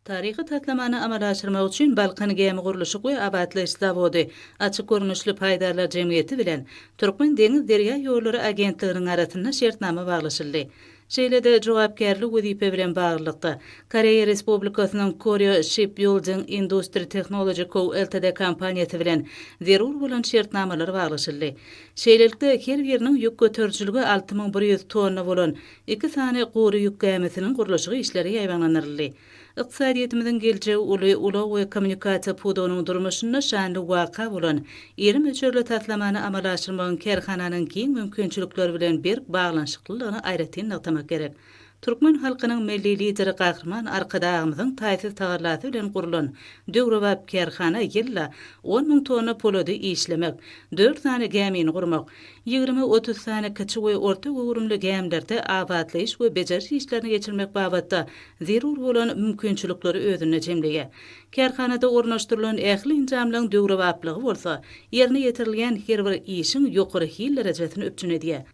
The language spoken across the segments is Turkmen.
Taryhy taslamany amala aşyrmak üçin Balkan gämi gurluşyk we abatlaýyş zawody, Açyk görnüşli paýdarlar jemgyýeti bilen Türkmen deňiz derýa ýollary agentliginiň arasynda şertnama baglaşyldy. Şeýle-de jogapkärli wezipe bilen baglylykda, Koreýa Respublikasynyň Koryo Shipbýulding Industri Tehnology Co. Ltd. Kompaniýasy bilen zerur bolan şertnamalar baglaşyldy. Şeýlelikde, her biriniň ýük göterijiligi alty müň bir ýüz tonna bolan Iki sany gury ýük gämisiniň gurluşygy işleri ýaýbaňlandyryldy. Ykdysadyýetimiziň geljegi uly ulag we kommunikasiýa pudagynyň durmuşynda şanly waka bolan iri möçberli taslamany amala aşyrmagyň kärhananyň giň mümkinçilikleri bilen berk baglanyşyklylygyny aýratyn nygtamak gerek. Türkmen halkynyň Milli Lideri Gahryman Arkadagymyzyň taýsyz tagallasy bilen gurlan döwrebap kärhana ýylda on müň tonna polady işlemek, dört sany gämini gurmak, ýigrimi-otuz sany kiçi we orta göwrümli gämilerde abatlaýyş we bejeriş işlerini geçirmek babatda zerur bolan mümkinçilikleri özünde jemleýär. Kärhanada ornaşdyrylan ähli enjamlaryň döwrebaplygy bolsa, ýerine ýetirilýän her bir işiň ýokary hil derejesini üpjün edýär.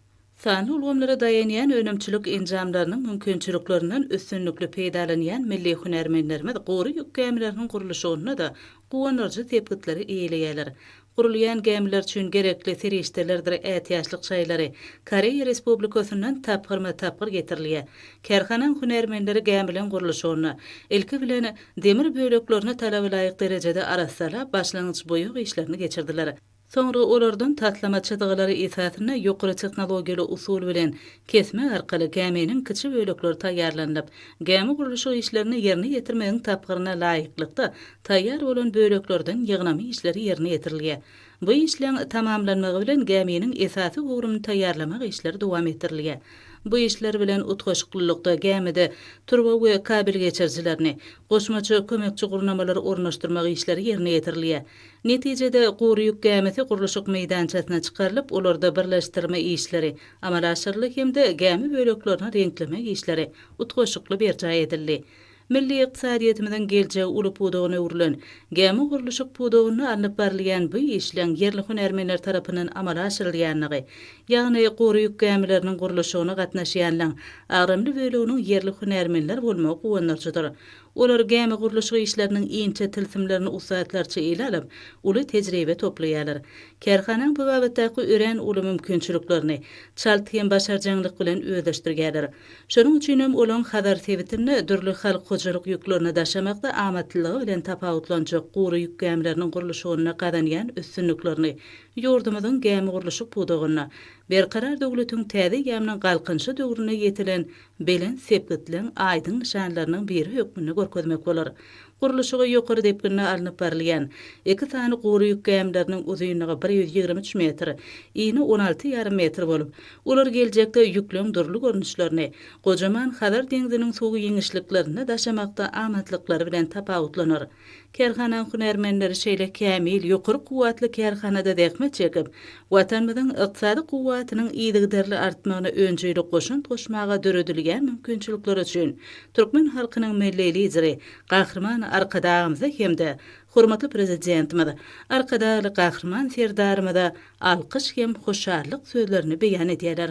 Sanly ulgamlara daýanýan önümçilik enjamlarynyň mümkinçiliklerinden üstünlikli peýdalanýan milli hünärmenlerimiz gury ýük gämileriniň gurluşygynda-da guwandyryjy sepgitleri eýeleýärler. Gurulýan gämiler üçin gerekli serişdelerdir ätiýaçlyk şaýlary Koreýa Respublikasyndan tapgyrma-tapgyr getirilýär. Kärhanaň hünärmenleri gämiliň gurluşygyny, ilki bilen, demir böleklerini talaba laýyk derejede arassalap, başlangyç-boýag işlerini geçirdiler. Soňra olardan taslama çyzgylary esasynda ýokary tehnologiýaly usul bilen kesme arkaly gäminiň kiçi bölekleri taýýarlanylyp, gämi gurluşyk işlerini ýerine ýetirmegiň tapgyryna laýyklykda Taýýar bolan böleklerden ýygnama işleri ýerine ýetirilýär. Bu işleň tamamlanmagy bilen gäminiň esasy ugruny taýýarlamak işleri dowam etdirilýär. Bu işler bilen utgaşyklylykda gämide turba we kabel geçirijilerini, goşmaça kömekçi gurnamalary ornaşdyrmak işleri ýerine ýetirilýär. Netijede, gury ýük gämisi gurluşyk meýdançasyna çykarylyp, olarda birleşdirme işleri amala aşyryldy hem-de gämi böleklerini reňklemek işleri utgaşykly berjaý edildi. Milli ykdysadyýetimiziň geljegi uly pudagyna öwrülen gämi gurluşyk pudagynda alnyp barylýan bu işleň ýerli hünärmenler tarapyndan amala aşyrylýandygy, ýagny gury ýük gämileriniň gurluşygyna gatnaşýanlaň agramly böleginiň ýerli hünärmenler bolmagy guwandyryjydyr. Olar gämi gurluşyk işleriniň inçe tilsimlerini ussatlarça ele alyp, uly tejribe toplaýarlar. Kärhanaň bu babatdaky örän uly mümkinçiliklerini çalt hem başarjaňlyk bilen özleşdirýärler. Şonuň üçin hem olaň Hazar sebitinde dürli halk hojalyk ýüklerini daşamakda amatlylygy bilen tapawutlanjak gury ýük gämileriniň gurluşygynda gazanýan üstünliklerini ýurdumyzyň gämigurluşyk pudagynda Berkarar döwletiň täze gäminiň galkynyşy döwründe ýetilen belent sepgitligiň aýdyň nyşanlarynyň biri hökmünde görkezmek bolar. Gurluşygy ýokary depginde alnyp barylýan iki sany gury ýük gämileriniň uzynlygy bir ýüz ýigrimi üç metr, yny on alty ýarym metr bolup, olar geljekde ýükleň dürli görnüşlerini gojaman Hazar deňziniň suw giňişliklerinde daşamakda amatlyklary bilen tapawutlanar. Kärhananyň hünärmenleri şeýle kämil, ýokary kuwwatly kärhanada zähmet çekip, Watanymyzyň ykdysady kuwwatynyň yzygiderli artmagyna önjeýli goşant goşmaga döredilýän mümkinçilikler üçin türkmen halkynyň Milli Lideri Gahryman Arkadagymyza hem-de hormatly Prezidentimiz Arkadagly Gahryman Serdarymyza alkyş hem hoşallyk sözlerini beýan edýärler.